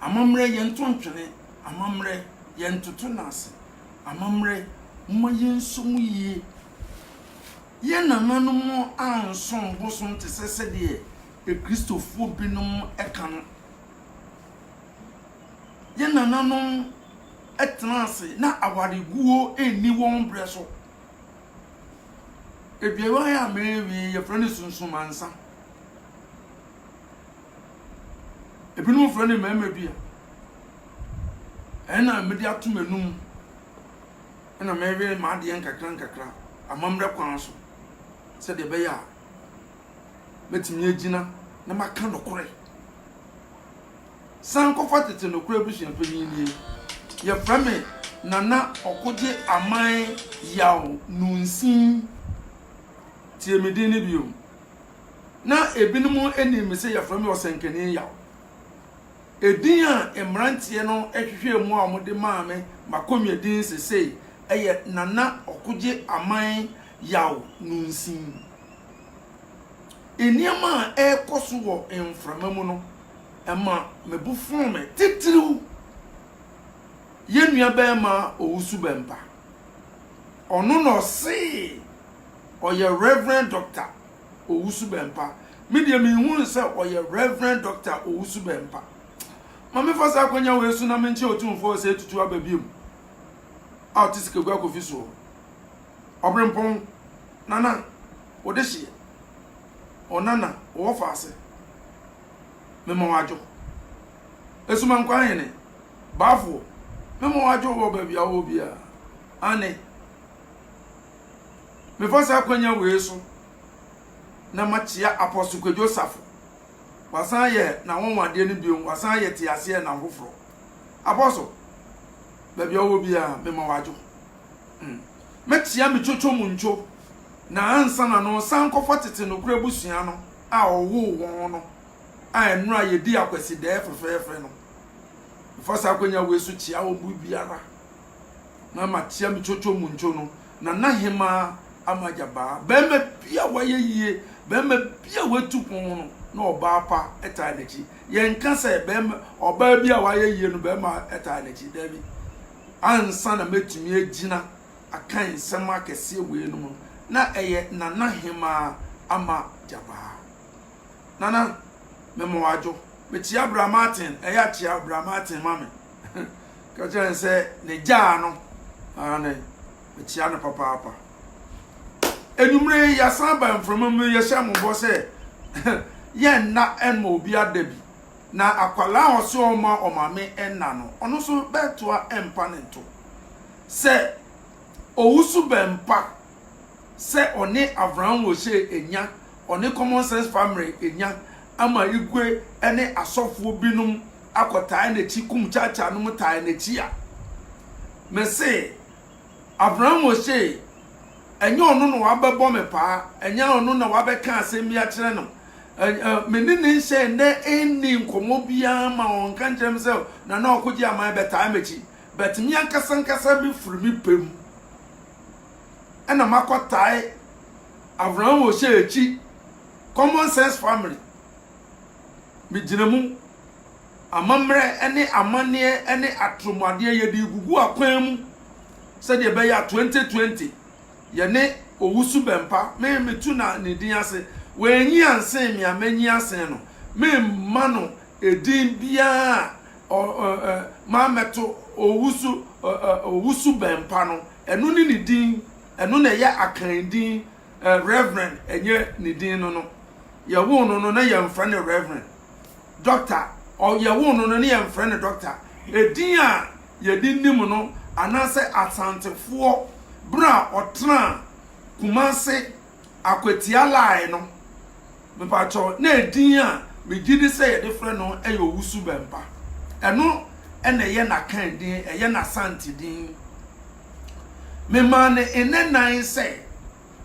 Amammerɛ yɛnto ntwene, amammerɛ yɛntoto no ase, amammerɛ momma yɛnsɔ mu yie. Yɛn nananom ansom bosom te sɛ sɛdeɛ Akristofoɔ binom ka no. Yɛn nananom tenaa ase na awareguo nni wɔn berɛ so. Aduane a merewie yi, yɛfrɛ no sunsumansa. Ebinom frɛ no mmarima bi a. Ɛno na mede ato m'anum na meyɛ m'adeɛ nkakra nkakra amammerɛ kwan so sɛdeɛ ɛbɛyɛ a mɛtumi agyina na maka nokorɛ. San kɔfa tete nokorɛ abusua panyin nie. Yɛfrɛ me Nana Ɔkogye Aman Yaw Nunsin. Tie me din no bio. na ebinom nim me sɛ wɔfrɛ me Ɔsɛnkani Yaw. Edin a mmeranteɛ no hwehwɛɛ mu a wɔde maa me m'akonnwadin seesei yɛ Nana Ɔkogye Aman Yaw Nunsin. Nneɛma a ɛrekɔ so wɔ mframa mu no, ɛma me bo fɔɔ me titiriw. Yɛn nuabarima Owusu Bɛmpa, ɔno na ɔsee. ɔyɛ Reverend Doctor Owusu Bempah. Me deɛ me nhu no sɛ ɔyɛ Reverend Doctor Owusu Bempah. Ma me fa saa akonya wei so na me nkyɛ otumfoɔ sɛ etutu aba biom. A ɔte sikegu akofi soɔ. Ɔbrempɔn, nana, ɔde hyeɛ. Ɔnana, ɔwɔ faase. Me ma wadwo. Esuma nkwa ahene, baafoɔ. Me ma wadwo wɔ baabi a ɔwɔ biara. Ane. Mefa saa akwanya wei so na makyia Apostle Kwadwo Osafo. Wasan ayɛ n'anwanwadeɛ no bio, wasan ayɛ teaseɛ nam foforɔ. Apostle, baabi a wowɔ biara, mema wo adwo. Mm. Mɛkyia me Coco Muncho, na ansa na no, san kɔfa tete nokorɛ abusua no a ɔwoo wɔn no, a ɛnora yɛdii akwasidɛɛ fɛfɛɛfɛ no. Mefa saa akwanya wei so kyia wɔn mu biara na matea me coco mu nco no, Nana Hemaa ama agya baa. Barima bi a wayɛ yie, barima bi a watu pon ho no, na ɔbaa pa taa n'akyi. Yɛnka sɛ barima, ɔbaa bi a wayɛ yie no, barima taa n'akyi. Daabi. Ansa na mɛtumi agyina aka nsɛm akɛseɛ weinom no, na ɛyɛ Nana Hemaa ama agya baa. Nana, mema wo adwo. Mekyea Bra Martin, ɛyɛ a kyea Bra Martin ma me. Ka kyerɛ no sɛ ne gyaa no. Aane, mekyea no papaapa. Anwummere yi, yɛasan ba mframa mu, yɛhyɛ mo bɔ sɛ yɛnna mma obi ada bi. Na akwadaa a ɔse ɔma ɔmaame nna no, ɔno nso bɛtoa mpa ne nto. Sɛ owusu bɛmpa sɛ ɔne Avraham Wose enya, ɔne Common Sense Famre enya, ama Igwe ne asɔfoɔ binom akɔtae n'akyi, Kumchacha nom tae n'akyi a, mese Avraham Wose, ɛnyɛ ɔno na wabɛbɔ me paa, ɛnyɛ ɔno na wabɛka asɛm bi akyerɛ no. Me ne ne nhyɛ nnɛ nni nkɔmmɔ biara ma ɔnka nkyerɛ me sɛ Nana Ɔkogye Aman bɛtae m'akyi, but me ankasa ankasa mefiri me pɛ mu. ɛna makɔ tae Avraham Ohyɛ akyi common sense family me gyina mu amammerɛ ɛne amanneɛ ɛne atromuadeɛ yɛde gugu akwan mu sɛdeɛ ɛbɛyɛ 2020 yɛne owusu bɛmpa me me tu na ne din ase wɔanyi ansen me a manyi asen no me mma no edin biara mammɛto owusu bɛn pa no, ɛno ne ne din, ɛno na ɛyɛ akan din, Reverend ɛnyɛ ne din no no. Yɛwoo no no na yɛmfrɛ no Reverend. Doctor, yɛwoo no no na yɛmfrɛ no Doctor. Edin a yɛde nim no anaasɛ Asantefoɔ berɛ a ɔtenaa Kumase Akwatia line no, mepakyɛw, na edin a megye di sɛ yɛde frɛ no yɛ Owusu Bɛmpa. Ɛno na ɛyɛ n'Akan din, ɛyɛ n'Asante din. Memaa no nne nnan sɛ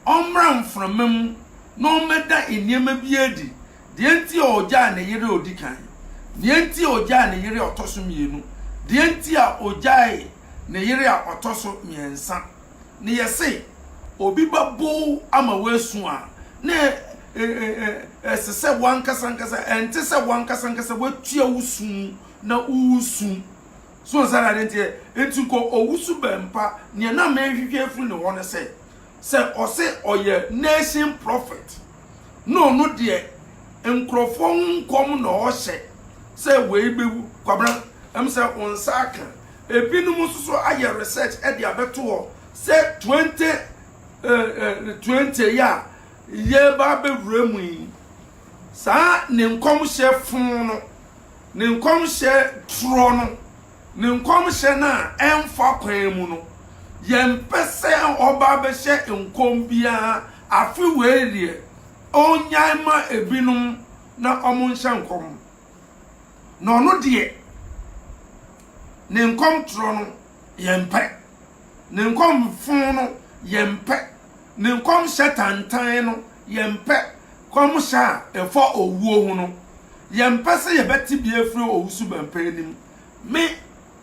ɔmmra mframa mu na ɔmmɛda nneɛma bi adi, deɛ nti a ɔgyaa ne yere a ɔdi kan, deɛ nti a ɔgyaa ne yere a ɔtɔ so mmienu, deɛ nti a ɔgyaee ne yere a ɔtɔ so mmiɛnsa. Ne yɛse obi ba bow ama woasu a, na ɛse sɛ woankasa ankasa, ɛnte sɛ woankasa ankasa woatua wo su mu na woresu. So nsa na adenteɛ, nti kɔ owusu bɛmpa. Neɛ na mehwehwɛ afiri ne hɔ ne sɛ, sɛ ɔse ɔyɛ nation prophet, na ɔno deɛ nkorɔfoɔ ho nkɔm na ɔhyɛ sɛ wei bɛwu. Kwabena, ɛm sɛ wo nsa aka, Ebinom nso so ayɛ research de abɛto hɔ sɛ twenty twenty yi a yɛreba abɛwura mu yi, saa ne nkɔmhyɛ fon no, ne nkɔmhyɛ torɔ no, ne nkɔmhyɛ no a ɛmfa kwan mu no, yɛmpɛ sɛ ɔba abɛhyɛ nkɔm biara afe wei deɛ, ɔnnyae mma ebinom na wɔnhyɛ nkɔm. na ɔno deɛ ne nkɔmtorɔ no yɛmpɛ, ne nkɔmfo no yɛmpɛ, ne nkɔmhyɛ tantan no yɛmpɛ, nkɔmhyɛ a ɛfa owuo ho no, yɛmpɛ sɛ yɛbɛte bi afiri owusubɛmpa anim. Me,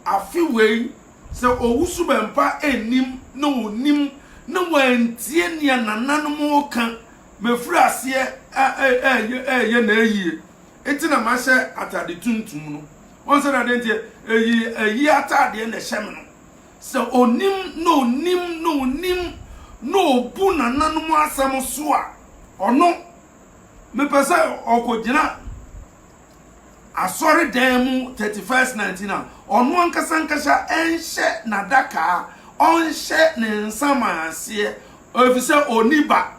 afe wei, sɛ owusubɛmpa nnim na ɔnim na wantie nea nananom reka Mefiri aseɛ reyɛ n'ayie, enti na mahyɛ atade tuntum no. Wohu sɛdeɛ adeɛ nteɛ? Ɛyi ayie atadeɛ na ɛhyɛ me no. Sɛ ɔnim na ɔnim na ɔnim na ɔbu nananom asɛm so a, ɔno, mepɛ sɛ ɔkɔgyina. asɔredan mu thirty first night na ɔno ankasa ankasa ɛnhyɛ n'adaka ɔnhyɛ ne nsa ma aseɛ efisɛ ɔni ba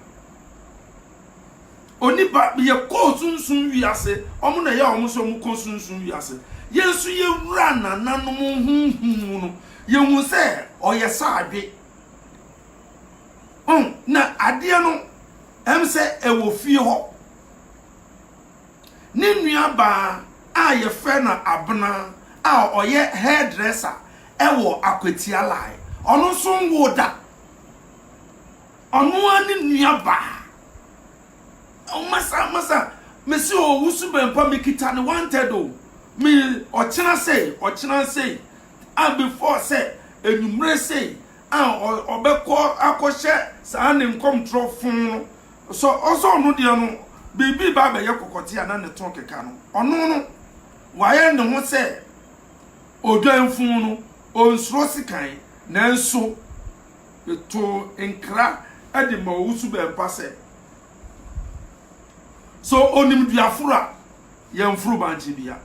ɔni ba yɛ kɔɔ sunsun wiase wɔn na ɛyɛ wɔn sɛ wɔn kɔ sunsun wiase yɛn nso yɛwura nananom huhun mu no yɛhu sɛ ɔyɛ saadwe na adeɛ no ɛm sɛ ɛwɔ fie hɔ. Ne nuabaa a wɔfrɛ no Abena a ɔyɛ hairdresser wɔ Akwatia Lai, ɔno nso nwoo da. Ɔno ara ne nuabaa. Masa, Masa, mese o, wo suban pa, mekita no wanted o. Me, ɔkyena sei, ɔkyena sei, a before sɛ anwummere sei a ɔbɛkɔ akɔhyɛ saa ne nkɔmtorɔ fon no. So ɔsɛ ɔno deɛ no biribi reba abɛyɛ kɔkɔte a na ne to rekeka no? Ɔno no, wayɛ ne ho sɛ odwanfunu no, ɔnsuro sekan. Nanso metoo nkra de maa Owusu Bɛmpa sɛ, Sɛ onim dua foro a, yɛmforo bankye bia.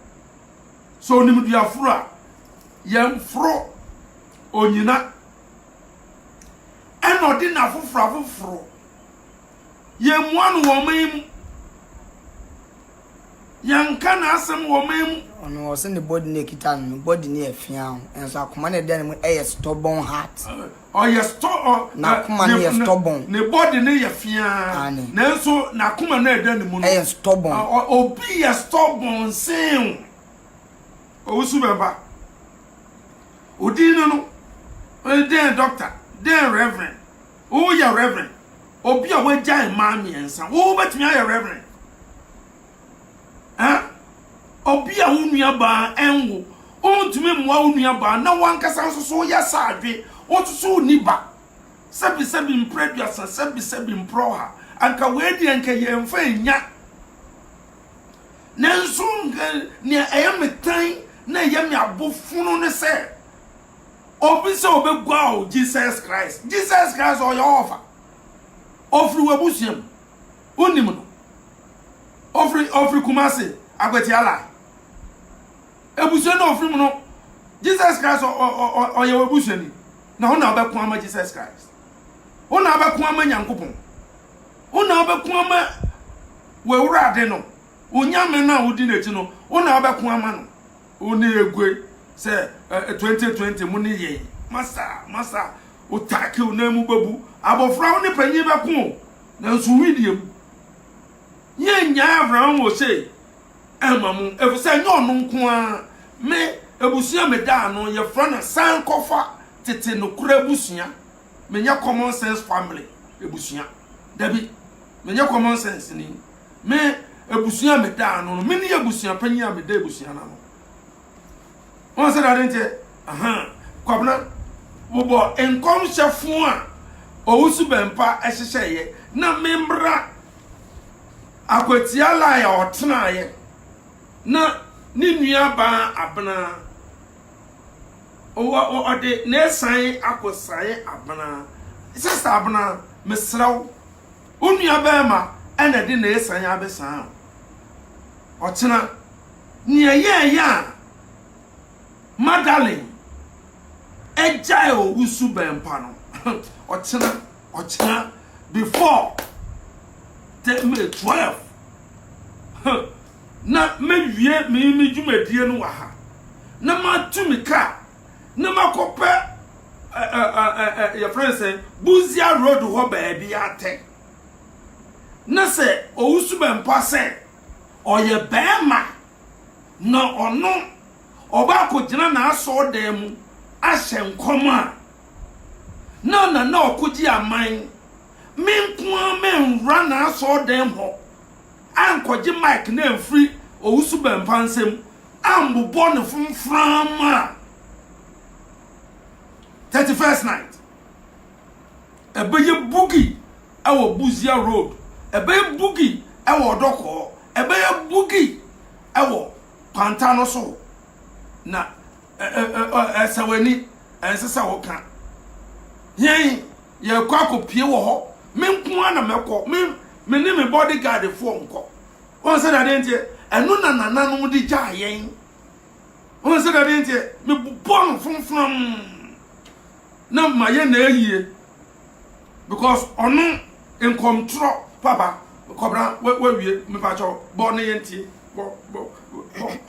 Sɛ onim dua foro a, yɛmforo onyina. Ɛna ɔde nna afoforo afoforo Yɛmmua no wɔ ɔman yi mu. Yɛnka n'asɛm wɔ ɔman mu. Ɔno ɔse ne body no ekita no no body no yɛ fia o nso akoma no ɛda ne mu ɛyɛ stubborn heart. Ɔyɛ stɔ ɔ n'akoma no yɛ stubborn. Ne body no yɛ fia nanso n'akoma no ɛda ne mu no ɛyɛ stubborn. Obi yɛ stubborn sen o. Owusu bɛba. Odin no no dɛn doctor dɛn reverend Woyɛ Reverend. Obi a wagyae mmaa mmiɛnsa, wo wobɛtumi ayɛ Reverend? Eh? Obi a wo nuabaa ɛnwo, wontumi mmoa wo nuabaa na wankasa nso so woyɛ saadwe, wososo wonni ba. Sɛbisɛbi mprɛduasa, sɛbisɛbi mprɔha, anka wei deɛ anka yɛmfa nnya. Nanso nka nea ɛyɛ me tan na ɛyɛ me abofono ne sɛ, Obi sɛ ɔbɛguaa wo Jesus Christ. Jesus Christ ɔyɛ ɔɔfa. Ɔfiri w'abusua mu. Wonnim no. Ɔfiri ɔfiri Kumasi, Akwatia line. Abusua no a ɔfiri mu no, Jesus Christ ɔ, ɔ, ɔ, ɔ, ɔyɛ w'abusuani. Na wo na wobɛko ama Jesus Christ. Wo na wobɛko ama Nyankopɔn. Wo na wobɛko ama w'Awurade no. Onyame no a wodi n'akyi no, wo na wobɛko ama no. wo ne egue sɛ ɛ twenty twenty mo ne yɛn masa masa wo taaki wo nan mu bɛbu abɔfra wo ne panyin bɛko o nanso wi deɛ mu yɛn nyaa abraham wɔ se ɛma mo efisɛ nyɛ ɔno nko ara me ebusua me da ano yɛfrɛ no san kɔfa tete nokora ebusua menyɛ common sense family ebusua dabi menyɛ common sense ni. Me abusua a meda ano no, mene abusua panyin a meda abusua no ano. Wɔn sɛ dade nteɛ, aha, Kwabena, wobɔ nkɔmhyɛfo a owusu bɛmpa hyehyɛeɛ na memmra akwatia lai a ɔtenaeɛ na ne nua baa abena ɔde n'esan akɔsan abena sista abena mesrɛ wo Wo nua barima na de na esan abesan wo. Ɔkyena, nea yɛɛyɛ a Madalyn gyae owu su bɛn pa no, ɔkyena, ɔkyena, before the May 12, na me wie me me dwumadie no wɔ ha, na ma tu me car. na makɔpɛ yɛfrɛ sɛ buzia road hɔ baabi atɛ na sɛ owusu bɛmpa sɛ ɔyɛ bɛrima na ɔno ɔbaako gyina n'asɔɔ dan mu ahyɛ nkɔm a na na na ɔkogye aman me nko ara mɛnwura n'asɔɔ dan mu hɔ ankɔgye Mike no amfiri Owusu-Bempah nsam ammobɔ no fomframa a, Thirty First Night, ɛbɛyɛ boogie wɔ Busia Road, ɛbɛyɛ boogie wɔ Ɔdɔkɔɔ, ɛbɛyɛ boogie wɔ Kwanta no so, na. Ɛsɛ w'ani, ɛnsɛ sɛ woka. Yɛn, yɛrekɔ akɔpie wɔ hɔ. Me nko ara na mɛkɔ. Me, me ne me body guardfoɔ nkɔ. Wɔn sɛ dade nteɛ, ɛno na nananom de gyaa yɛn. Wɔn sɛ dade nteɛ, mebobɔ no fomfam na mayɛ na ayie because ɔno nkɔmtorɔ papa kɔbra wawie mepakyɛw bɔ ne yɛntie bɔ bɔ bɔ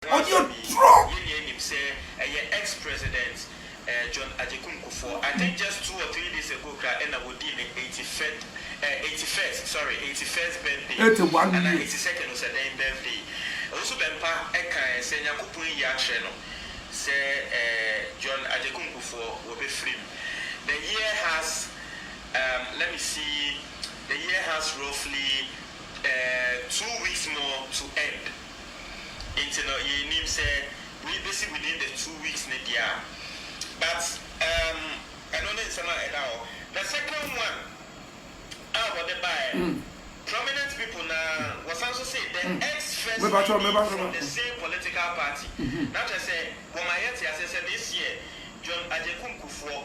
Ɔde aduro. Yɛn nyinaa nim sɛ ɛyɛ ex president John Agyekum Kufuor. I think just two or three days ago koraa ɛna wɔdii ne eighty fifth eh eighty first sorry eighty first birthday Eighty one anaa years. eighty second o sɛ dɛn birthday. Owusu Bɛmpa ɛkaɛ sɛ Nyankopɔn ayi akyerɛ no sɛ eh John Agyekum Kufuor wɔbɛfiri mu. The year has um let me see the year has roughly eh two weeks more to end. Nti no yɛnnim sɛ wei bɛsi within the two weeks no deɛ a but um ɛno ne nsɛm a ɛda hɔ. The second one a wɔde baeɛ no prominent people no ara wɔsan nso se the ex-first lady from the same political party na kyerɛ sɛ wɔma yɛte aseɛ sɛ this year John Agyekum Kufuor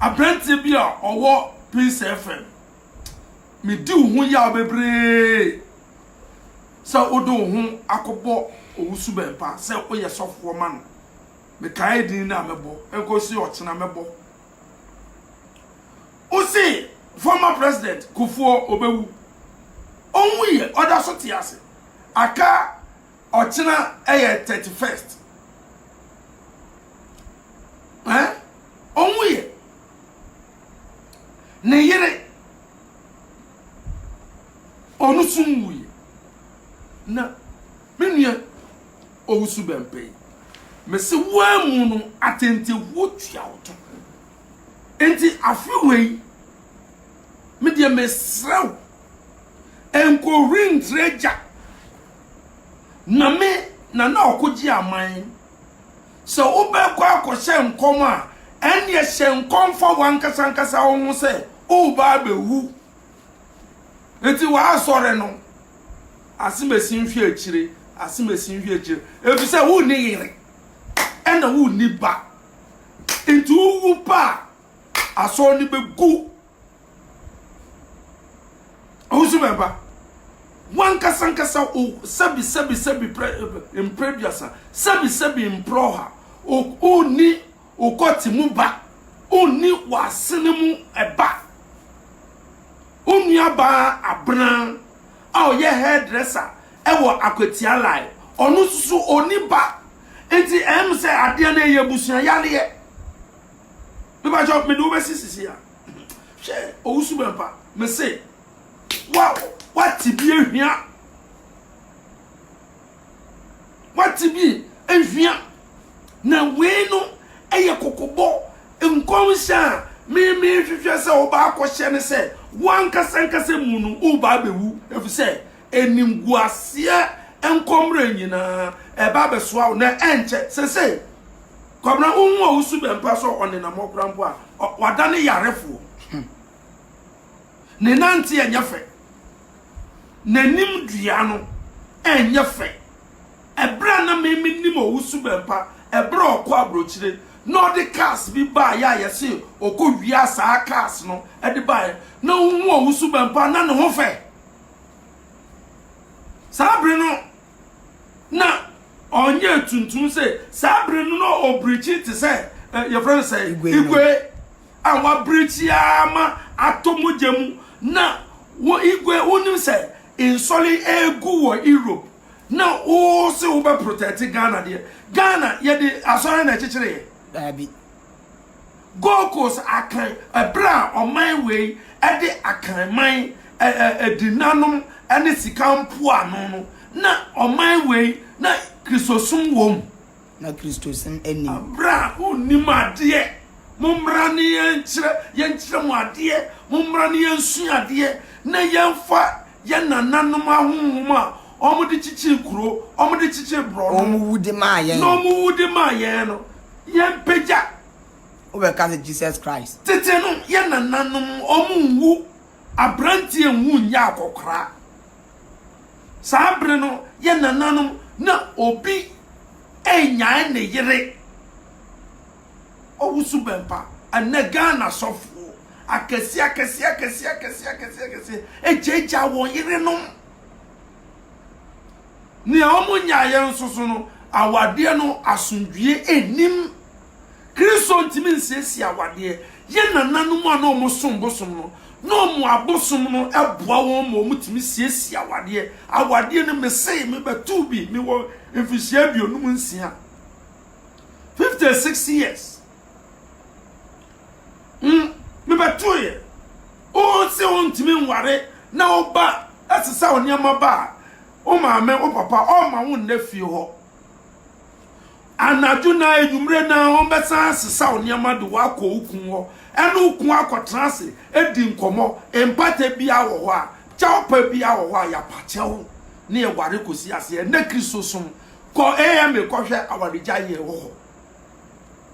Aberanteɛ bi a ɔwɔ Pinsa FM, medi wo ho yaw bebree sɛ wode wo ho akɔbɔ Owusu Bɛmpa sɛ woyɛ sɔfoɔ ma no. Mekae din no a mɛbɔ, ɛnkɔsi ɔkyena mɛbɔ. Wose former president Kufuor ɔbɛwu, ɔnwuiɛ, ɔda so te ase. Aka Ɔkyena yɛ thirty first eh ɔnwu yɛ ne yere ɔno so nwu yɛ na me nua owusu bɛmpɛ yi mese woamu no atɛntɛwuo tua wo to nti afe wei medeɛ mesrɛ wo nkɔhuri ntrɛ gya Nyame na na ɔkogye aman. Sɛ wobɛkɔ akɔhyɛ nkɔm a, ɛnneɛ hyɛ nkɔm fa w'ankasa ankasa wo ho sɛ woreba abɛwu. Enti w'asɔre no, asomasi nhwɛ akyire, asomasi nhwɛ akyire, efisɛ wonni yere, ɛna wonni ba. Enti wowu pɛ a, asɔre no bɛgu ahosu bɛ ba wankasa nkasa o sɛbi sɛbi sɛbi mpere duasa sɛbi sɛbi mpere ɔha o ni okɔte mu ba o ni w'asene mu ɛba o nuabaa abena a ɔyɛ hairdresser ɛwɔ akwatia lai ɔno soso oni ba nti ɛm sɛ adeɛ no ɛyɛ abusua yareɛ Me pa kyɛw me de wobɛsi sisi a hwɛ owusu bɛ mpa me se wa wate bi ehwia wate bi ehwia na wei no ɛyɛ kokobɔ nkɔmhyɛ a meme hwehwɛ sɛ wobaa kɔhyɛ ne sɛ wankasa nkasa mu no wobaa bɛwu ɛfisɛ animguaseɛ nkɔmmerɛ nyinaa ɛba abɛsoa wo na ɛnkyɛ sesei Kwabena wohu ɔwosu bɛmpa sɛ ɔnenam hɔ kora mpo a wada ne yarefoɔ ne nante ɛnyɛ fɛ n'anim dua no ɛnyɛ fɛ ɛberɛ a na meme nim ɔwosu bɛmpa ɛberɛ a ɔkɔ aburokyire na ɔde cars bi baa yɛ a yɛse ɔkɔ wia saa cars no ɛde baa yɛ na wohu ɔwosu bɛmpa na ne ho fɛ Saa bere no na ɔnyɛ tuntum sɛ saa bere no na ɔbirikyi te sɛ eh, yɛfrɛ no sɛ Igwe no. igwe a wabirikyi ara ma atɔ mogya mu na wo igwe wonim sɛ nsɔre egu wɔ europe na wose wobɛprotɛte ghana deɛ ghana yɛde asɔre na ɛkyekyere yɛ daabi Gold Coast akan bere a ɔman wei de Akanman adinnanom ne sika mpoano no, na ɔman wei na Kristosom wom. Na Kristosom nnim. Bere a wonnim adeɛ, mommra ne yɛnkyerɛ yɛnkyerɛ mo adeɛ, mommra ne yɛnsua adeɛ, na yɛmfa Yɛn nananom ahonhom a wɔde kyekyee kuro, wɔde kyekyee borɔno. Wɔn wu de maa yɛn. Na wɔn wu de maa yɛn no, yɛmpagya. Wobɛka sɛ Jesus Christ. Tete no, yɛn nananom, wɔnwu. Aberanteɛ nwu nyɛ akɔkoraa. Saa bere no, yɛn nananom, na obi nnyae ne yere. ɔwosu bɛmpa. Ɛnnɛ Ghana asɔfoɔ akɛseɛ akɛseɛ akɛseɛ akɛseɛ akɛseɛ akɛseɛ agyaagyaa wɔn yerenom. Nea wɔnyaeɛ nso so no, awadeɛ no asomdwoeɛ nnim. Kristo ntumi nsiesie awadeɛ. Yɛn nananom a na wɔsom bosom no, na wɔn abosom no boa wɔn ma wɔtumi siesie awadeɛ. Awadeɛ no, mese mebɛtoo bi, mewɔ mfirihyia aduonum nsia. fifty six years mm mebɛtoo yɛ wonse wontumi nware na wo ba ɛsesa wo nneɛma ba a wo maame wo papa ɔma wo nna fie hɔ anadwo na enyimire na wɔn bɛsan asesa wo nneɛma de wakɔ wo kun hɔ ɛne wo kun akɔtena ase edi nkɔmɔ mpata bia wɔ hɔ a kyɛw pa bia wɔ hɔ a yɛapakyɛw ne ɛware kɔsi aseɛ ɛnɛ kristosom Kɔ AMA kɔhwɛ awaregyae yɛ wɔ hɔ.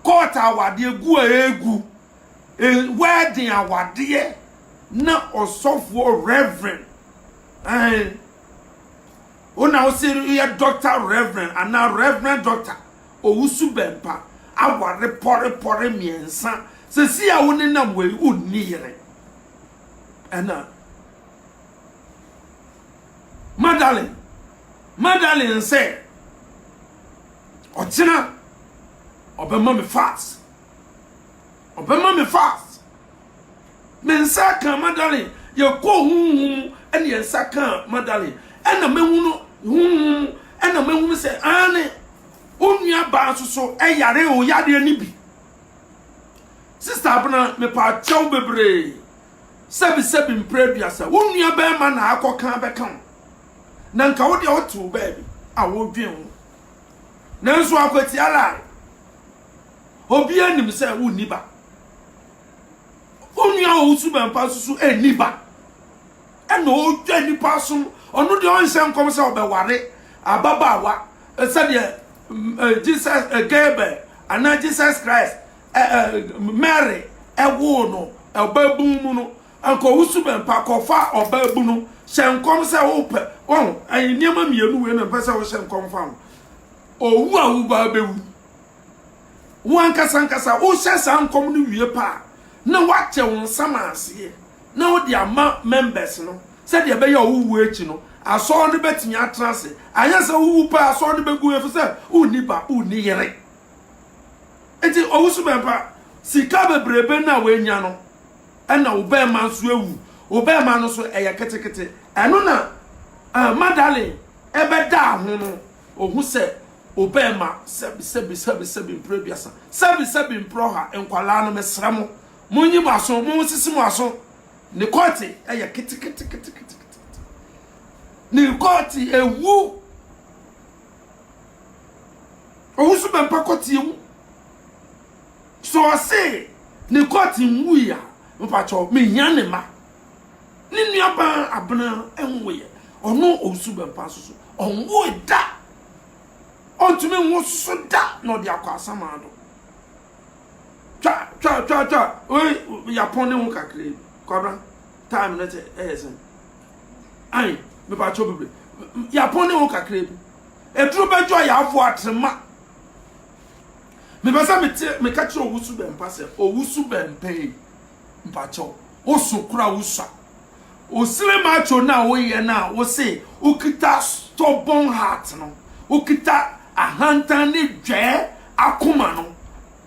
Court awadeɛ gu a ɛgu. Wedding awadeɛ na ɔsɔfoɔ reverend. Ɛn. Wona wo se yɛ doctor reverend ana reverend doctor owusu bɛmpa aware pɔre pɔre mmiɛnsa sɛ si a wo ne nam wei wo nni yere. Ɛna. Magdalene, Magdalene sɛ, Ɔkyena ɔbɛma me fast. Ɔbɛma me fast. Me nsa kaa Magdalene. Yɛkɔɔ honhom mu ɛne yɛn nsa kaa Magdalene. Ɛna mɛhunu honhom mu ɛna mɛhunu sɛ aane onua baa soso ɛyare o yadeɛ ne bi. Sister Abena mepaakyɛw bebree Sɛbisɛbi mprɛ aduasa wo nua bɛɛma na akɔ kan bɛka wo na nka wo deɛ wote wo baabi a wo dwen ho nanso akwatia lie obiaa nim sɛ wo nni ba wo nua wɔ wo suban pa nso so ɛnni ba ɛna ɔdwa nnipa asom ɔno deɛ ɔnhyɛ nkɔm sɛ ɔbɛware ababaawa sɛdeɛ Jesus Gabriel anaa Jesus Christ Mary woo no ɔbaabun mu no, anka ɔwo suban pa, kɔfa ɔbaabun no, hyɛ nkɔm sɛ wopɛ, wahu, nneɛma mmienu wei na mpɛ sɛ wohyɛ nkɔm fa ho. Owu a woba bɛwu. Wo ankasa ankasa wohyɛ saa nkɔm no wie pa a, na woakyɛ wo nsɛm aseɛ na wode ama members no sɛdeɛ ɛbɛyɛ a wowu akyi no, asɔre no bɛtumi atena ase. Anyɛ sɛ wowu pɛ a asɔre no bɛgu efisɛ wonni ba, wonni yere. Enti ɔwoso bɛmpa. Sika bebrebe no a wanya no, ɛna wo bɛɛma nso awu. Wo bɛɛma no nso ɛyɛ ketekete. Ɛno na uh, Madalyn ɛbɛdaa ho no, ohu sɛ wo bɛɛma sɛbi sɛbi sɛbi sɛbi mprɛ aduasa, sɛbi sɛbi mprɛ ɔha. Nkwalaa no mesrɛ mo, monyi mo aso, mo sisi mo aso. Ne kɔɔte ɛyɛ ketekete ketekete. Ne kɔɔte ewu. Ɔwo so bɛmpa kɔteɛ mu. Sɛ ɔse ne court nwui a, mepakyɛw mehia ne mma. Ne nua baa Abena nwoeɛ. Ɔno Owusu Bɛmpa nso so, ɔnwoe da. Ɔntumi nwo so da na ɔde akɔ asaman do. Twa twa twa twa, wei yɛapɔn ne ho kakraa bi. Kwabena, time no te ɛyɛ sɛn? Ae, mepakyɛw bebre. Yɛapɔn ne wo kakra bi. Aduru bɛdwo a yɛafoa atrema. Mepɛ sɛ mete meka kyerɛ owusu bɛn pa sɛ owusu bɛn pɛi mpakyɛw woso kora wusua osile macho na woyɛ na wose wokita stubborn heart no wokita ahantan ne dwɛɛ akoma no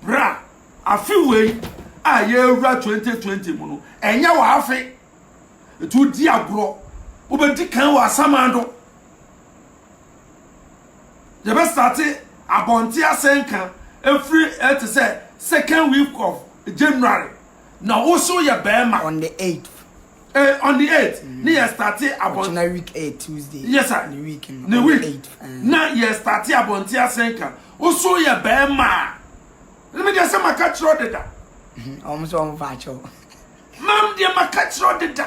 bra afe wei a yɛwura 2020 mu no ɛnyɛ wɔ afe Enti wodi agorɔ. Wobɛdi kan wɔ asaman do. Yɛbɛstate abɔnten asɛnka ɛfiri ɛ te sɛ second week of January na wo so yɛ bɛrima. On the eighth. Eh, on the eighth. Mm. Ne yɛ starte abɔnten. Ɔkyena week eight Tuesday. Yes sir. Ne week no. Ne week. Eight. Eh. Na yɛ starte abɔnten asɛnka. Wo so yɛ bɛrima. Ne mi deɛ sɛ maka kyerɛ ɔdeda. Ɔmo sɛ ɔmo fa akyɛw. Mam deɛ maka kyerɛ wo deda.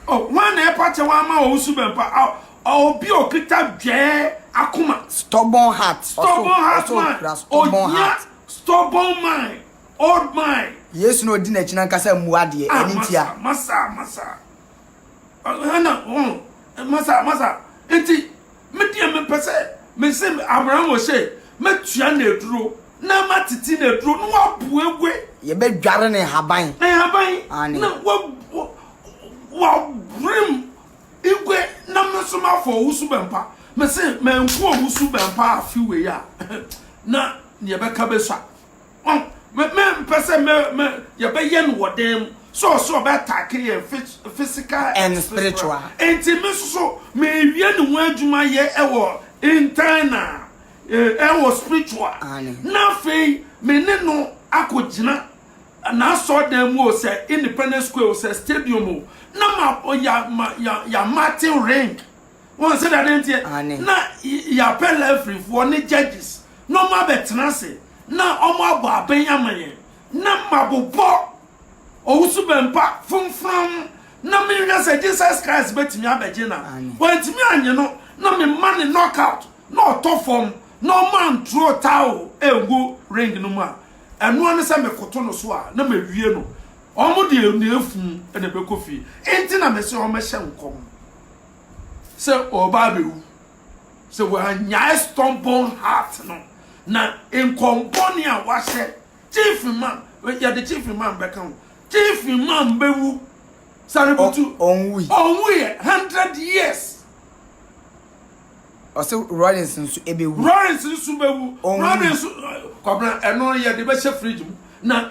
O, hwan na ɛpa kyɛw ama wo wo suban pa? A, ɔ, obi a ɔkita dwɛɛ akoma. Stubborn heart. Ɔsɔ, Stubborn heart ɔsɔ man. okura stubborn Ohia heart. stubborn mind, old mind. Yesu na ɔdi n'akyi na nka sɛ mmua deɛ, Ah, ɛne ntia. masa, masa, masa. Ɛna wɔn masa masa nti me deɛ mepɛ sɛ mese Abraham ose mɛtua no aduro na matete no aduro na wabuebue. Yɛbɛdware ne nhaban. Ne nhaban na wabrem igwe na me nso mafɔ owusu bɛmpa mese manku owusu bɛmpa afe wei a na neɛ bɛka bɛsua. Ɔn, me, me mpɛ sɛ me, me, yɛbɛyɛ no wɔ dan mu. So ɔsɛ ɔbɛ attack yɛn phys, physical and, and spiritual. spiritual. Enti me nso so, me wie ne ho adwuma yɛ ɛwɔ internal, eh, ɛwɔ spiritual. Aane. Na afei, me ne no akɔ gyina n'asɔre dan mu o, sɛ Independence Square o, sɛ stadium o, na ma, ya, ma, ya, ya martin ring. Wɔn sɛdeɛ adeɛ nteɛ, na yɛapɛ Levifoɔ ne judges na wɔn abɛtena ase na wɔn abɔ abɛn ama yɛn, na mabobɔ owusu bɛmpa fomfram na menhwɛ sɛ Jesus Christ bɛtumi abɛgye na wantumi anye no na mema ne knockout na ɔtɔ fam na wɔn antroo towel ɛngu ring no mu a ɛnoa ne sɛ mekoto no so a na mawie no wɔn deɛ na ɛfu na ɛbɛkɔ fie nti na mese wɔn hyɛ nkɔm sɛ ɔreba abɛwu, sɛ wannyae stubborn heart no, na nkɔm bɔne a wahyɛ, Chief Imam, yɛde Chief Imam bɛka ho, Chief Imam bɛwu, Sarebutu, ɔnwuiɛ, hundred years. Ɔsɛ Lawrence nso ɛbɛwu. Lawrence nso bɛwu. Lawrence, Kwabena, ɛno yɛde bɛhyɛ fridge mu, na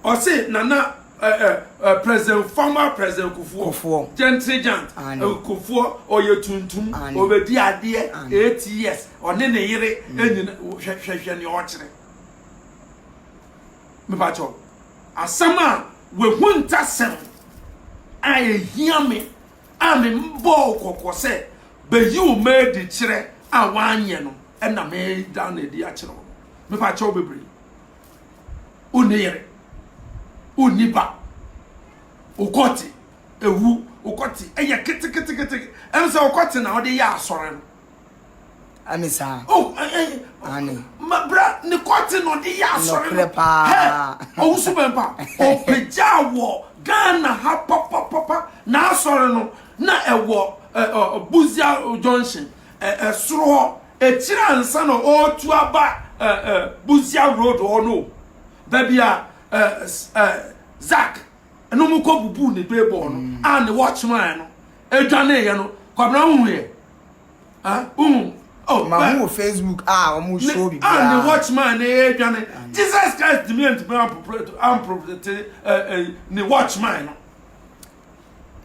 Ɔse Nana eh, eh, eh, President former President Kufuor, Kufuor. Gentry Jant, Ane. eh, Kufuor ɔyɛ tuntum, Ane. ɔbɛdi adeɛ Ane. eight years, ɔne ne yere anyina, hwɛ hwɛ hwɛ nea ɔkyerɛ. Mepakyɛ wo, asɛm a wahu ntasɛm a ɛhia me a mebɔɔ wo kɔkɔ sɛ bɛyi wo ma adi kyerɛ a woanyɛ no ɛna meda no adi akyerɛ wo no. Mepakyɛ wo bebree. wonni yere, wonni ba, wo kɔte, ewu, wo kɔte, ɛyɛ keteketekete, ɛno sɛ wo kɔte na ɔde yɛ asɔre no. Ɛne saa. Oh, ɛɛ, ɛne. Mabra ne kɔte na ɔde yɛ asɔre no. Nɔkorɛ paa. Ɔwusu bɛn pa, ɔpagya wɔ Ghana ha papapapa na asɔre no na ɛwɔ ɛɛ Buzia Junction ɛɛ soro hɔ Akyire ansa na ɔretu aba eh, eh, Busia Road hɔ no, baabi a eh, eh, Zak no mu kɔ bubuu ne beebɔɔ no mm. a ne watch man no adwaneeɛ no, Kwabena wohuiɛ? Ah, wohu Oh, ma hu facebook a ah, wɔn show bi biara and the watchman ne yɛ dwane jesus christ dimi ntumi amproprete amproprete ne watchman no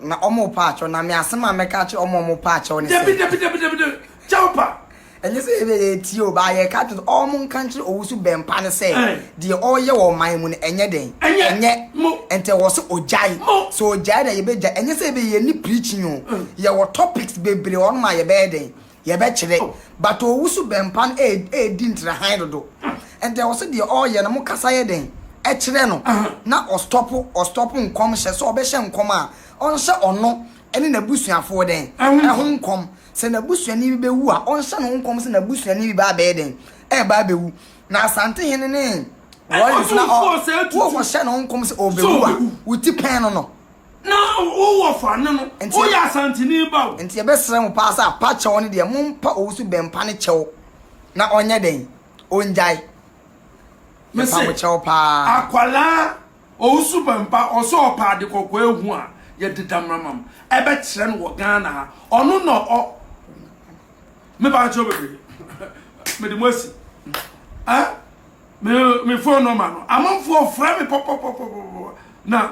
Na ɔmo pa akyɛw na me asɛm a mɛka akyerɛ ɔmo a ɔmo pa akyɛw ne sɛ. Dabi dabi dabi dabi dabi kyɛw pa. Ɛnyɛ sɛ ebia yɛ tie o baa yɛ ka akyerɛ sɛ ɔmo nka nkyerɛ owusu bɛn pa ne sɛ deɛ ɔɔyɛ wɔ ɔman mu no ɛnyɛ dɛn ɛnyɛ ntɛ wɔ sɛ ogyae sɛ ogyae na yɛbɛ gyae ɛnyɛ sɛ ebia yɛ ni preaching o yɛ wɔ topics bebree ɔnom a yɛbɛyɛ dɛn yɛbɛkyerɛ. But owu so bɛmpa no ɛɛdi ntra hann dodo. Ɛnti ɛwɔ sɛ deɛ ɔɔyɛ no mo kasa yɛ dɛn? Ɛkyerɛ no na ɔstɔpo ɔstɔpo nkɔm hyɛ. Sɛ ɔbɛhyɛ nkɔm a ɔnhyɛ ɔno ɛne n'abusuafoɔ dɛn? Ɛho nkɔm. Sɛ n'abusuani bi bɛwu a ɔnhyɛ ne ho nkɔm sɛ n'abusuani bi bɛ abɛyɛ dɛn? Ɛɛba abɛwu. Na Asantehene ne Warriors na ɔ wookɔhyɛ ne ho nkɔm sɛ ɔɔbɛwu a wo ti pɛn no no. Na wo wɔfa ne no, Nti- woyɛ Asanteni ba o. Nti yɛbɛsrɛ mo paa sɛ apa kyɛw no deɛ mompa owusu bɛmpa no kyɛw na ɔnyɛ dɛn? Ɔngyae. Me Yɛpa se, mo kyɛw paa. akwadaa Owusu Bɛmpa, ɔsɛ ɔpɛ ade kɔkɔɔ ahu a, yɛde Damramam bɛkyerɛ no wɔ Ghana ha. Ɔno na ɔ Me ba kyɛw bebree. Mede mo asi. Eh? Me, me phone number no, amanfoɔ frɛ me pɔpɔpɔpɔpɔ na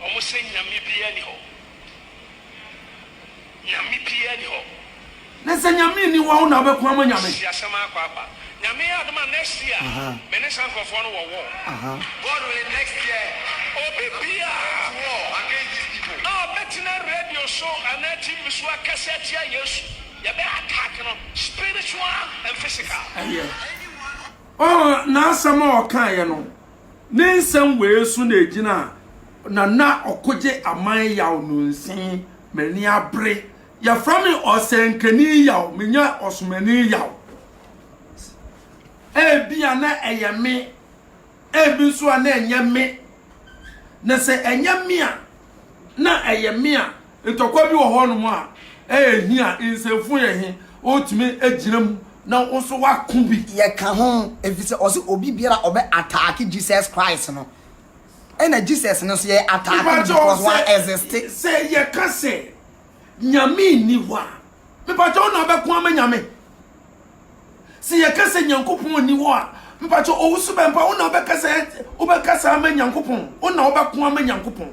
Wɔn se, Nyame biara nni hɔ. Nyame biara nni hɔ. Na sɛ Nyame nni hɔ a, wo na wobɛko ama Nyame? Si asɛm ara kwaakwa. Nyame yɛ adom a next year me ne saa nkorɔfoɔ no wɔ war. God willing next year obi biara at war against these people a ɔbɛtena radio so anaa TV so akasa atia Yesu, yɛbɛ attack no spiritual and physical. Ɛyɛ. Oh, n'asɛm a ɔkaeɛ no, Ne nsɛm wei so na egyina a Nana Ɔkogye Aman Yaw no nsen, M'ani abere, Yɛfrɛ me Ɔsɛnkani Yaw, Menyɛ Ɔsomani Yaw. Ebia na ɛyɛ me, ebi nso a na ɛnyɛ me, na sɛ ɛnyɛ me a, na ɛyɛ me a, Ntɔkwa bi wɔ hɔnom a ɛyɛ hia a nsɛmfua yɛ he wotumi agyina mu na wo nso woako bi. Yɛka ho efisɛ ɔse obi biara a ɔbɛ attack Jesus Christ no, ɛna Jesus no nso yɛ attack no Mepakyɛw because wa sɛ, exist. sɛ yɛka sɛ Nyame nni hɔ a, mepakyɛw na abɛko ama Nyame? Sɛ yɛka sɛ Nyankopɔn nni hɔ a, mepakyɛw owu so bɛmpa wo na wobɛkasa, wobɛkasa ama Nyankopɔn? Wo na wobɛko ama Nyankopɔn?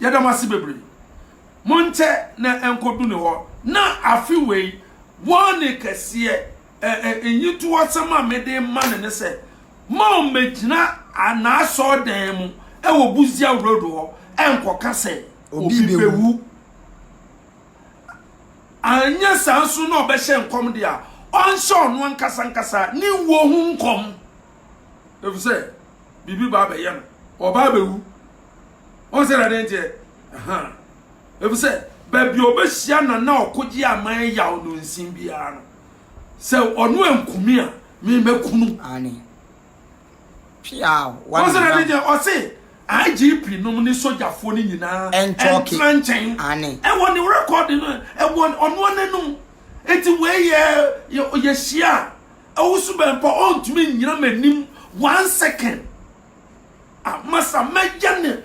Yɛda mo ase bebree. Monkyɛ na ɛnkɔdu ne hɔ. Na afe wei, warning kɛseɛ, ɛ, ɛ, nyitoɔsɛm a mede rema no ne sɛ, moammɛgyina a, n'asɔɔdan mu wɔ Busia Road hɔ ɛnkɔka sɛ obi bɛwu. Anyɛ saa nso na ɔbɛhyɛ nkɔm deɛ a, ɔnhyɛ ɔno ankasa ankasa ne wuo ho nkɔm. efisɛ biribi ba abɛyɛ no, ɔba abɛwu. Wɔn sɛ na ɛde nteɛ, efisɛ baabi a ɔbɛhyia na na ɔkogye aman yaw no nsin biara no, sɛ ɔno ankumi a, me mɛkunu. Aane. Wɔn sɛ na ɛde nteɛ, ɔse IGP nom ne sogyafoɔ no nyinaa ɛntena nkyɛn. Ɛwɔ ne rekɔɔde no, ɛwɔ ɔno n'anum. Eti wei yɛ yɛhyia a, Ɔwosu bɛn mpo a ɔntumi nnyina m'anim one second. Ah, masa mɛyɛ ne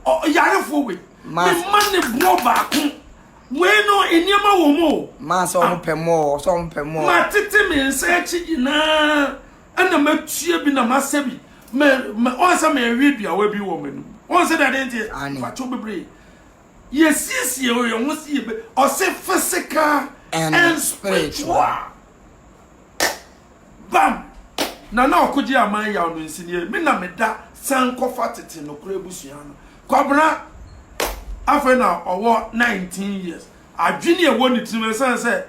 ɔyarefoɔ wei. Mema ne boɔ baako. Wei no nneɛma wɔ mu o. Maa sɛ ɔmo pɛ mu o, sɛ ɔmo pɛ mu o. Matete me nsa akyi nyinaa ɛna matua bi na masɛ bi. Ɔn sɛ mewe duawa bi wɔ m'anim. Ɔn sɛ dade nteɛ, mfakyɛw bebree. Yɛsiesie yɛn ho sɛ yɛbɛ ɔse physical and, and spiritual. Bam! Na na ɔkogye aman yaw no nsinie. Me na meda san kɔfa tete nokorɛ abusua no. Kwabena afei na ɔwɔ 19 years. Adwene ɛwɔ ne tirim ɛsiane sɛ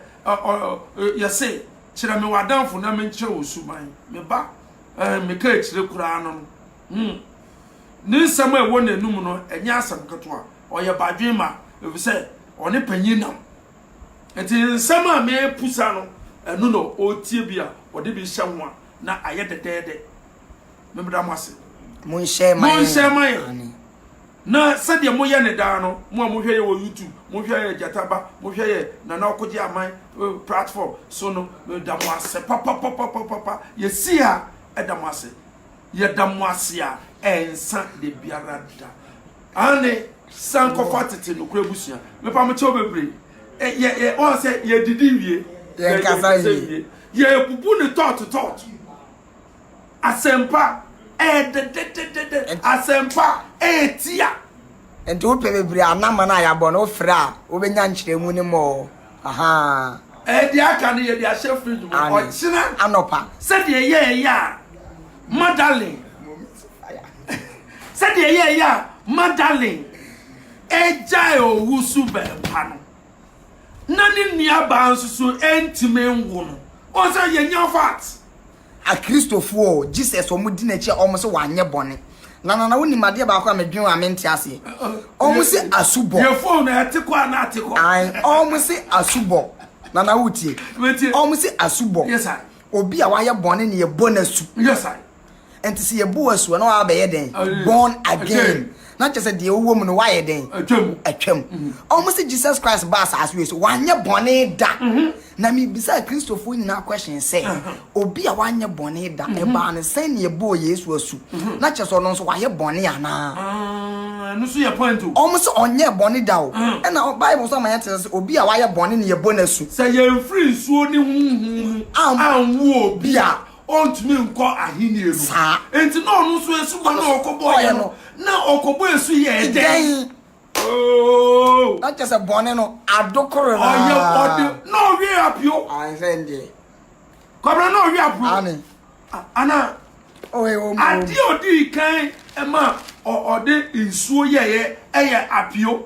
yɛse kyerɛ me w'adamfo na menkyerɛ wo suban. Me ba, meka akyire koraa no no. Hmm. Ne nsɛm a ɛwɔ n'anum no, ɛnyɛ asɛm ketewa. Ɔyɛ badwen ma, efisɛ ɔne panyin nam. Nti nsɛm a mepusa no, ɛno na ɔretie bi a ɔde bi hyɛ ho a na ayɛ dɛdɛɛdɛ. Memmeda mo ase. Monhyɛ ma yɛn. Monhyɛ ma yɛn. Na sɛdeɛ moyɛ ne daa no, mo a mohwɛ yɛ wɔ YouTube, mohwɛ yɛ Gyataba, mohwɛ yɛ Nana Ɔkogye Aman eh, platform so no, meda mo ase papapapapapa. Yɛsi ha ɛda mo ase. Yɛda mo ase a ɛnsa da biara da. Aane, san kɔfa tete nokorɛ abusua. Mepa mo kyɛw bebree. Ɛ, yɛ, yɛ, wɔn sɛ yɛdidi wie. Yɛn kasa wie. Yɛbubu ne tɔɔto tɔɔto. Asɛmpa ɛyɛ dɛdɛdɛdɛdɛ. Asɛmpa ɛyɛ tia. Nti wopɛ bebree a na mana a yɛabɔ no wofrɛ a wobɛnya nkyerɛmu no mɔ. Ahaa. Deɛ aka no yɛde ahyɛ fridge mu ɔkyena anɔpa. Sɛdeɛ yɛɛyɛ a Madalyn sɛdeɛ yɛɛyɛ a Madalyn ɛgyae owu so bɛɛpa no na ne nuabaa nso so ɛntumi nwo no wɔn sɛ yɛnya fat. Akristofoɔ o, Jesus a wɔdi n'akyi a wɔn se wanyɛ bɔne. Na Nana wonim adeɛ baako a medwen ho a mente aseɛ. Wɔn se asubɔ. Yɛ phone no ɛte kɔ anaa ɛte kɔ? Ae, wɔn se asubɔ. Nana wotie? Metie. Wɔn se asubɔ. Yes sir. Obi a wayɛ bɔne na yɛbɔ no asu. Yes sir. Nti sɛ yɛbɔ wo asu a na wabɛyɛ dɛn? Born again. na kyerɛ sɛ deɛ wowɔ mu no woayɛ dɛn atwam atwam ɔmo se jesus christ ba asaase wei so wanyɛ bɔne da na mebisa kristofoɔ nyinaa question sɛ obi a wanyɛ bɔne da ɛbaa no sɛn ne ɛbɔɔ yesu asu na kyerɛ sɛ ɔno nso wayɛ bɔne anaa ɛno so yɛ point o ɔmo se ɔnyɛ bɔne da o ɛna bible nso ama yɛte sɛ obi a wayɛ bɔne ne yɛbɔ no asu sɛ yɛmfiri nsuo ne honhom mu anwo obi a ɔntumi nkɔ ahenni no. Saa. Enti na ɔno nso asubɔ na ɔkɔbɔeɛ no, na ɔkɔbɔ asu yɛ dɛn? Oo. Na kyɛ sɛ bɔne no adokoro no ara. Ɔyɛ ɔde na ɔwe apio. Ansɛ ndeɛ. Kɔbena na ɔwe apio. Ane. Ana. Ɔyɛ wɔn. Adeɛ ɔde kan ma ɔde nsuo yɛyɛ ɛyɛ apio.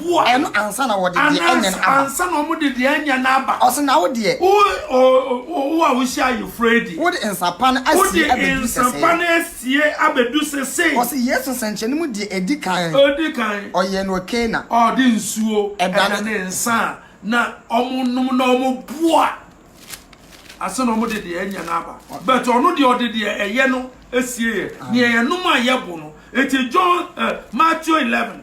Woa. Ɛno ansa na wɔde deɛ anya no aba. Ansa na wɔde deɛ anya no aba. Ɔse na wo deɛ. Wo oh oh a wohyɛ ayeforo adi. Wode nsa pa no asie abɛdu sɛsɛɛ. Wode nsa pa no asie abɛdu sɛsɛɛ. Ɔse Yesu nsɛnkyerɛnne mu deɛ edi kan. Edi kan. Ɔyɛɛ no wɔ Kana. Ɔde nsuo ɛdane nsa a na wɔn nom na wɔn boa ansa na wɔde deɛ anya no aba. But ɔno deɛ ɔde deɛ ɛyɛ no asie yɛ deɛ yɛnom a yɛbo no. Eti John eh Matthew eleven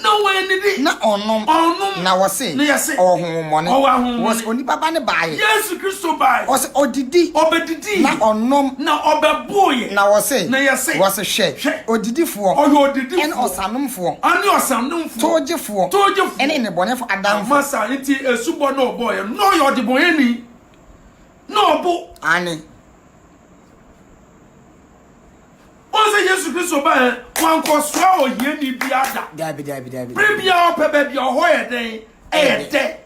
Na wɔannidi. Na ɔnnom. Ɔnnom. Na wɔse. Na yɛse. Ɔwɔ honhommɔne. Ɔwɔ ahonhommɔne. Wɔse onipa ba no baeɛ. Yesu Kristo baeɛ. Wɔse ɔdidi. Ɔbɛdidiiɛ. Na ɔnom. Na ɔbɛboeɛ. Na wɔse. Na yɛse. Wɔse hwɛ. Hwɛ. Odidifoɔ. Ɔyɛ odidifoɔ. Ɛne ɔsanomfoɔ. Ɛne ɔsanomfoɔ. Towgyefoɔ. Towgyefoɔ. Ɛne nnebɔneyɛfoɔ adamfo. Ama saa nti asubɔ na ɔbɔeɛ no, na ɔyɛ ɔdebɔneyɛni. Na ɔbo. Aane. Wɔn sɛ Yesu Kristo ba yɛ wankɔsoa ohiani biara da. Dabi dabi dabi. Bere biara ɔpɛ baabi a ɔhɔ yɛ dɛn ɛyɛ dɛ.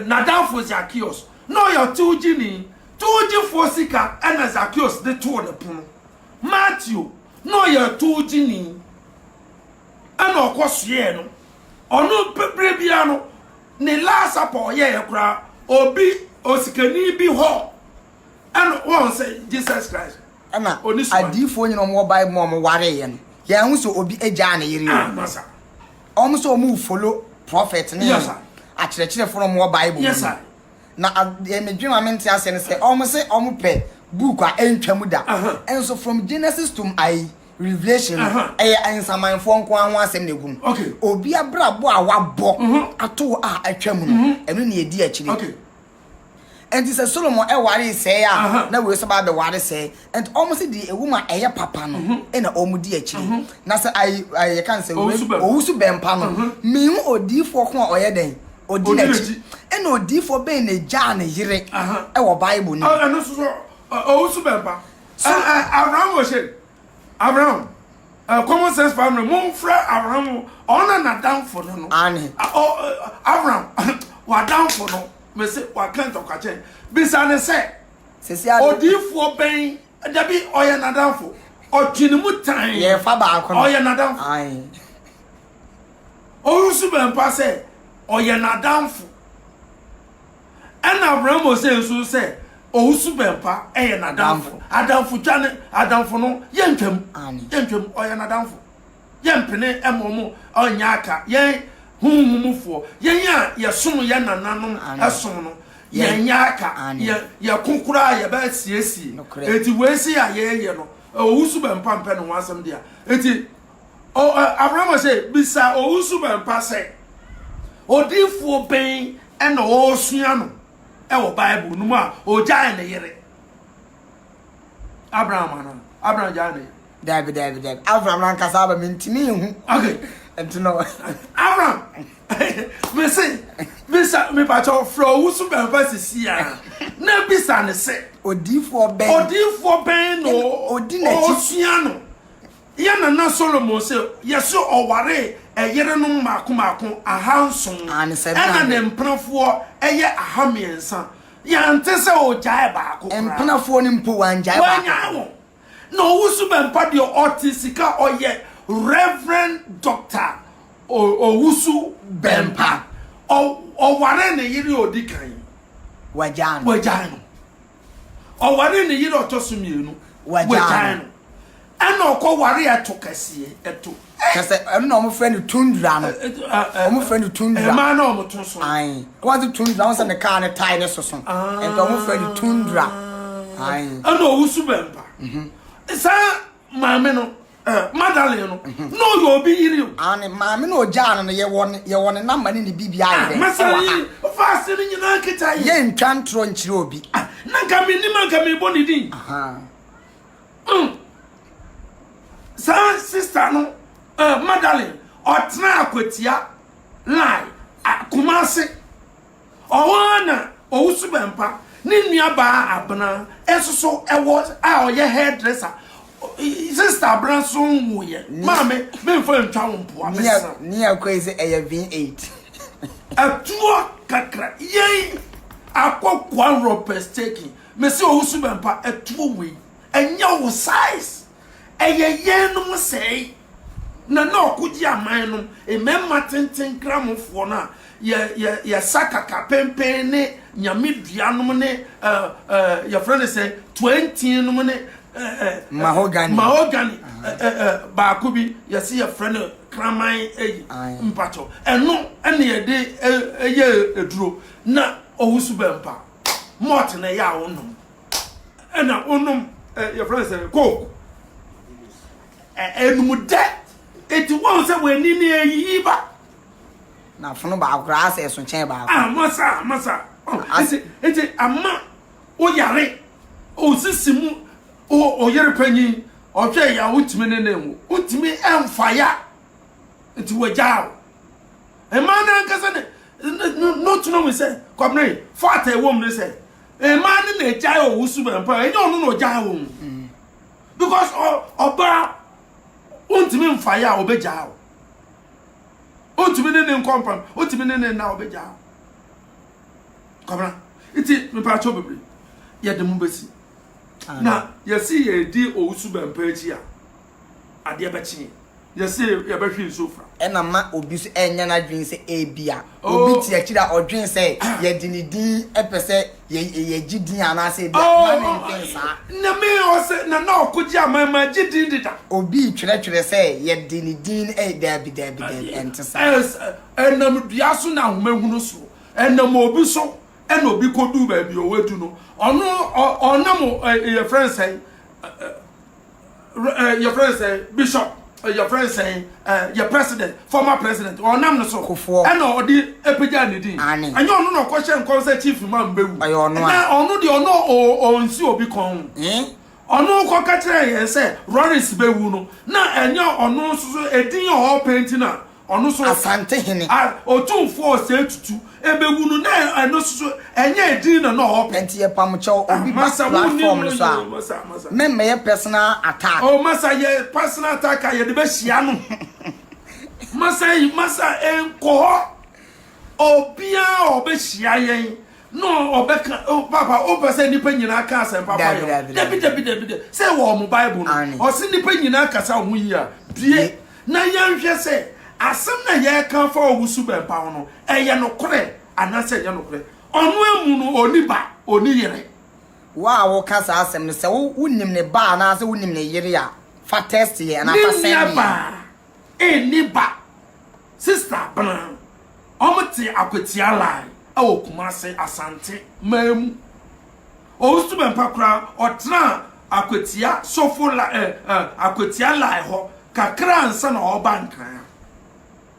N'adamfo Zakeos na ɔyɛ towgyeni. Towgyefoɔ sika ɛna Zakeos de too ne pono. Mateo na ɔyɛ towgyeni ɛna ɔkɔsoɛɛ no. Ɔno bere biara no ne last supper ɔyɛɛ koraa obi osikani bi hɔ ɛna wɔn sɛ Jesus Christ. Ɛna adiyifoɔ nyina ɔmo wɔ bible mu a ɔmo wareeɛ no yɛn ho sɛ obi agyaa ne yere o ɔmo sɛ ɔmo follow prophet ne akyerɛkyerɛfoɔ na ɔmo wɔ bible mu no na deɛ me dwen ma me nte aseɛ no sɛ ɔmo sɛ ɔmo pɛ book a ɛntwa mu da ɛnso from genesis to ayi revelation no ɛyɛ nsamanfoɔ nko ara ho asɛm na egum obi abrabɔ a wabɔ ato a atwa mu no ɛno na edi akyire. Enti sɛ Solomon waree sɛɛ a, na wei nso ba abɛware sɛɛ. Enti wɔn se deɛ ɛwɔ mu a ɛyɛ papa no na wɔn di akyire. Na sɛ ayi ayi yɛka no sɛ owu so bɛmpa no, mehu odiyifoɔ ko a ɔyɛ dɛn? Ɔdi n'akyi. Ɛna odiyifoɔ bɛn na ɛgyaa ne yere wɔ Bible no mu? Ɛno nso so owu so bɛmpa. Abraham Oshane, Abraham, eh, common sense family, momfrɛ Abraham, ɔno na damfo no no. Ane. Abraham, wadamfo no, mese waka ntɔkwa kyɛn. Bisa ne sɛ, odiifoɔ bɛn, dabi, ɔyɛ nadamfo. Ɔtwe ne mu tan. Yɛfa baako no. Ɔyɛ nadamfo. Ae. Ɔwusu bɛmpa sɛ, ɔyɛ nadamfo. Ɛna Abraham osee nso sɛ owusu bɛmpa yɛ n'adamfo. Adamfo twa ne adamfo no yɛntwam. Yɛntwam ɔyɛ n'adamfo. Yɛmpene ɛma ɔmo ɔnyɛ aka yɛn honhom mufoɔ. Yɛn a yɛsom yɛn nananom ɛsom no yɛnyɛ aka. Yɛ yɛko koraa yɛbɛsiesie. Enti wei sei a yɛɛyɛ no owusu bɛmpa mpɛ ne ho asɛm dea. Enti. O, ɛ, Abraham ɔse, bisa owu suban pa sɛ, Odiyifoɔ bɛn na ɔresua no wɔ Bible no mu a ɔgyae ne yere? Abraham anaa? Abraham gyae ne yere. Daabi, daabi, daabi. Abraham n'ankasa aba mentumi nhu. Okay. Nti no. Abraham, mese, bisa, mepakyɛ ɔfrɛ owu suban pa sisi a, na bisa ne sɛ. Odiyifoɔ bɛn. Odiyifoɔ bɛn na ɔresua no? Yɛn nana Solomon se, yɛse ɔwaree ɛyerenom mmaako mmaako ahanson, ɛna ne mpenafoɔ yɛ ahammiɛnsa. Yɛante sɛ ɔgyaee baako koraa. Mpenafoɔ no mpo, wangyae baako koraa. Wannyae wɔn. Na ɔwo so bɛmpa deɛ ɔte sika a ɔyɛ Rev. Doctor Owusu Bɛmpa. Ɔ, ɔwaree ne yere a ɔdi kan. Wagyae no. Wagyae no. Ɔwaree ne yere a ɔtɔ so mmienu, wɔagyaa no. Ɛna ɔkɔ ware ɛto kɛseɛ, ɛto. Kyɛ sɛ ɛno na wɔfrɛ no tundra no. Wɔfrɛ no tundra. Ɛmaa na wɔto so. Ae. Wɔte tundra, wɔn sɛ ne kaa ne tae ne soso. Nti wɔfrɛ no tundra. Ae. Ɛna ɔwusu bɛmpa. Saa maame no eh, Magdalene no mhm. na ɔyɛ obi yiri o. Ah, ne maame na ɔgyaa no no yɛwɔ ne yɛwɔ ne namba ne ne biribi ayɛ ah, dɛ. Mɛsɛn yi fa ase no nyinaa nkita yi. Yɛ ntwa ntorɔ nkyerɛ obi. Ah, na nka mi nim nka mi bɔ ne din. Mm. Saa sista no eh, Magdalene ɔtena akwatia line Kumasi Ɔhɔ ara na Owusu Bɛmpa ne nuabaa Abena nso so wɔ a ɔyɛ hairdresser. Sister Abena nso nwuiɛ. Maame, memfa ntwa wo mpoa, mesrɛ wo. Ni a koi sɛ ɛyɛ V8. Atuo kakra, yei akɔ Kwanrɔ pɛsteki. Mese Owusu Bɛmpa atuo wei ɛnyɛ wo size. Ɛyɛ yɛnnom sɛe na na ɔko gye aman no, mmarima tenten nkramofoɔ no a yɛ, yɛ, yɛsa kakapempen ne nyameduanom ne ɛ, ɛ, yɛfrɛ no sɛ tuantiinom ne ɛ, ɛ, Mahogany. mahogany ɛ, ɛ, ɛ, baako bi yɛse yɛfrɛ no kraman ayi Aye. mpakyɛw ɛno ɛna yɛde ɛ, ɛyɛ aduro na ɔwusu bɛmpa malt na ɛyɛ a wonom ɛna wonom eh, yɛfrɛ sɛ coke ɛnum eh, dɛ eti wɔn sɛ wɔn ani na eyiyi ba. na funu baako koraa sɛ ɛso kyɛn baako. amasa ah, amasa ah, eti eti ama oyare osisi mu oyere panyin ɔhwɛ ya wotumi ne ne mu wotumi ɛnfa ya eti wɔgya o mmaa n'ankasa ne ne ne n'otunu mu sɛ kɔmene fata ɛwɔ mu ne sɛ Mmaa no na egyae owu so bɛn paa, ɛnyɛ ɔno na ogyae wo ho. Because ɔbaa ontumi mfa yɛ a obegyaa wo. Ontumi ne ne nkɔmpam, ontumi ne ne nna obegyaa wo. Kɔmena, nti mepaakyɛw bebree, yɛde mo besi. Na yɛsi yɛdi owu so bɛn paa akyi a. adeɛ bɛkye. Yɛse yɛbɛhwe nsuo fra. Ɛna ma obi nso ɛnyɛ n'adwene sɛ ebia obi te akyiri a ɔdwen sɛ yɛde ne din pɛ sɛ yɛgye din anaasɛ ebia mma no ntwen saa. Nyame ɔse Nana Ɔkogye aman magye din deda. Obi retwerɛtwerɛ sɛ yɛde ne din no ɛyɛ daabi daabi daabi ɛnte saa. Ɛnam dua so na ahoma hunu so. Ɛnam obi so ɛna obi kɔduu baabi ɔwadu no. Ɔno ɔnam yɛfrɛ no sɛn. eh, yɛfrɛ no sɛ bishop eh, yɛfrɛ no sɛ eh, yɛ president former president ɔnam no so Kofoɔ. ɛna ɔde apagya ne din Ane. ɛnyɛ ɔno na ɔkɔhyɛ nkɔm sɛ chief ma mbɛwu Ɔyɛ ɔno a. na ɔno deɛ ɔno ɔ- ɔnsi obi kɔn Eh? ɔno kɔka kyerɛ yɛn sɛ roris bɛwu no na ɛnyɛ ɔno nso so ɛdin a ɔpɛ nti na Ɔno so. Asantehene. A Otumfoɔ Osei Tutu bɛwu no, na ɛno nso ɛnyɛ edin na na ɔrepɛ. Nti yɛpam kyɛw, obi ba Masa, wonni platform no no, so a, yo, Masa, Masa. memmɛyɛ personal attack. Oh, Masa, yɛ personal attack a yɛde bɛhyia no. Masa, ei, Masa, ei, nkɔ hɔ. Obiara a ɔbɛhyia yɛn. No ɔbɛka oh, papa wopɛ sɛ nnipa nyinaa ka asɛmpa fa yɛ dabidabidabida sɛ ɛwɔ ɔmo bible no ɔse nnipa nyinaa kasa ho yi a bie na yɛnhwɛ sɛ asɛm na yɛka fa ɔwusu bɛmpa ho no ɛyɛ nokorɛ anaasɛ ɛnyɛ nokorɛ ɔno amu no ɔni ba ɔni yere wo a woka saa asɛm no sɛ wonim ne ba anaasɛ wonim ne yere a fa test yɛ anaa fa sɛn ne Nni ba. Sister bena ɔmo te akwatia line ɛwɔ kumase asante man mu ɔnsu bɛmpa koraa ɔtenaa akwatia sofo line eh eh akwatia line hɔ kakra ansa na ɔba nkran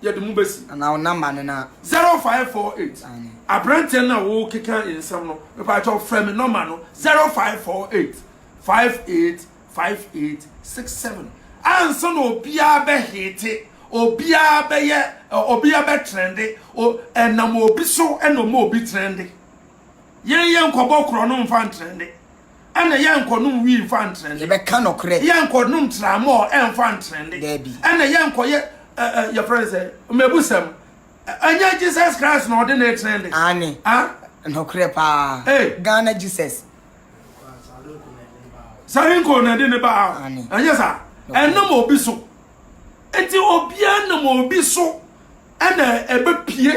yɛde mo besi Anaa wo number no na. Zero five four eight Aane. Abranteɛ no a wo keka nsɛm no mepa kyɛw frɛ me nɔma no zero five four eight five eight five eight six seven ansa na obiara bɛ hete obiara bɛyɛ obiara bɛ trɛnde ɛnam obi so ɛna ɔma obi trɛnde yɛn yɛn nkɔbɔ korɔ no nfa ntrɛnde ɛna yɛn nkɔnom wii nfa ntrɛnde yɛbɛka nɔkorɛ yɛn nkɔnom tramɔ ɛnfa ntrɛnde ɛna yɛn nkɔyɛ yɛ frɛ sɛ mɛbu sɛm ɛnyɛ Jesus Christ na ɔde ne trɛnde ane nɔkorɛ paa Ghana Jesus sarenko na ɛde ne baa ɛnyɛ saa ɛnam obi so nti obiara nam obi so ɛna ɛbɛpie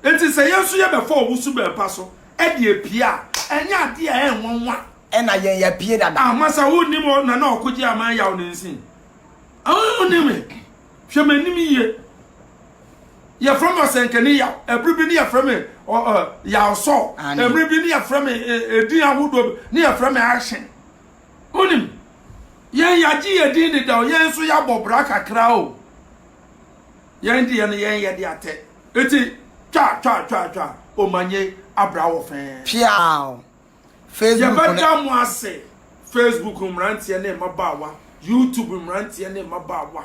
nti sɛ yɛn nso yɛbɛfa ɔwo so bɛɛpa so ɛde apue a ɛnyɛ adeɛ a ɛnwanwa ɛna yɛn yɛpie dada amasa ah, wonim nana ɔkogye ama yaw ne nsin wonim ah, Hwɛ m'anim yie. Yɛfrɛ me Ɔsɛnkani Yaw. Ɛberɛ bi ne yɛfrɛ me Yaw Sɔɔ. Ɛberɛ bi ne yɛfrɛ me edin ahodoɔ bi ne yɛfrɛ me Action. Wonim, yɛn yɛagye yɛn din dedaw, yɛn nso yɛabɔ bra kakra o. Yɛn deɛ no yɛnyɛ de atɛ. Enti twa twa twa twa, Omanyɛ abra wɔ fɛɛ. Piaw! Facebook ne. Yɛbɛda mo ase, Facebook mmeranteɛ ne mmabaawa, YouTube mmeranteɛ ne mmabaawa.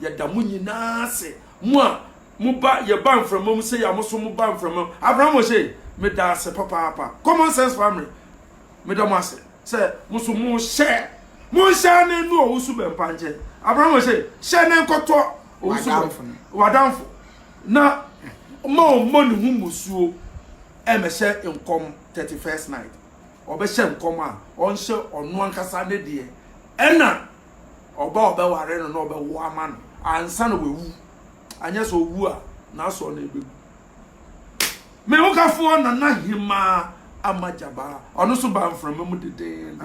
Yɛda mo nyinaa ase. Mo a moba, yɛba mframa mu sei a, mo nso moba mframa mu. Abraham Oshei, meda ase papaapa. Common Sense Family, meda mo ase sɛ mo nso mo share. Mo share ne nnu Owusu Bɛmpa nkyɛn. Abraham Oshei, share ne nkɔtɔ Owusu Bɛmpa, w'adamfo, na ma ɔmmɔ ne ho mmusuo mmɛhyɛ nkɔm. thirty first night ɔbɛhyɛ nkɔm a ɔnhyɛ ɔno ankasa ne deɛ ɛna ɔba a ɔbɛware no na ɔbɛwo ama no ansa na wawu anyɛ sɛ ɔwu a n'asoɔ no ɛbɛgu me wokafoɔ nana hemaa ama gyabaa ɔno so ba mframa mu dedeen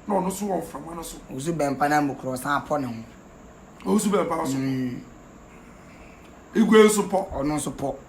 na ɔno so wɔ mframa no so ɔsu bɛmpa na mukorɔ san pɔ ne ho ɔsu bɛmpa so mm. igwe nso pɔ ɔno nso pɔ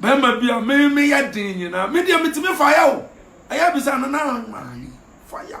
Bɛrima bi a me me yɛ den nyinaa me deɛ metumi fa yɛ o ɛyɛ bisa no na maa fa yɛ.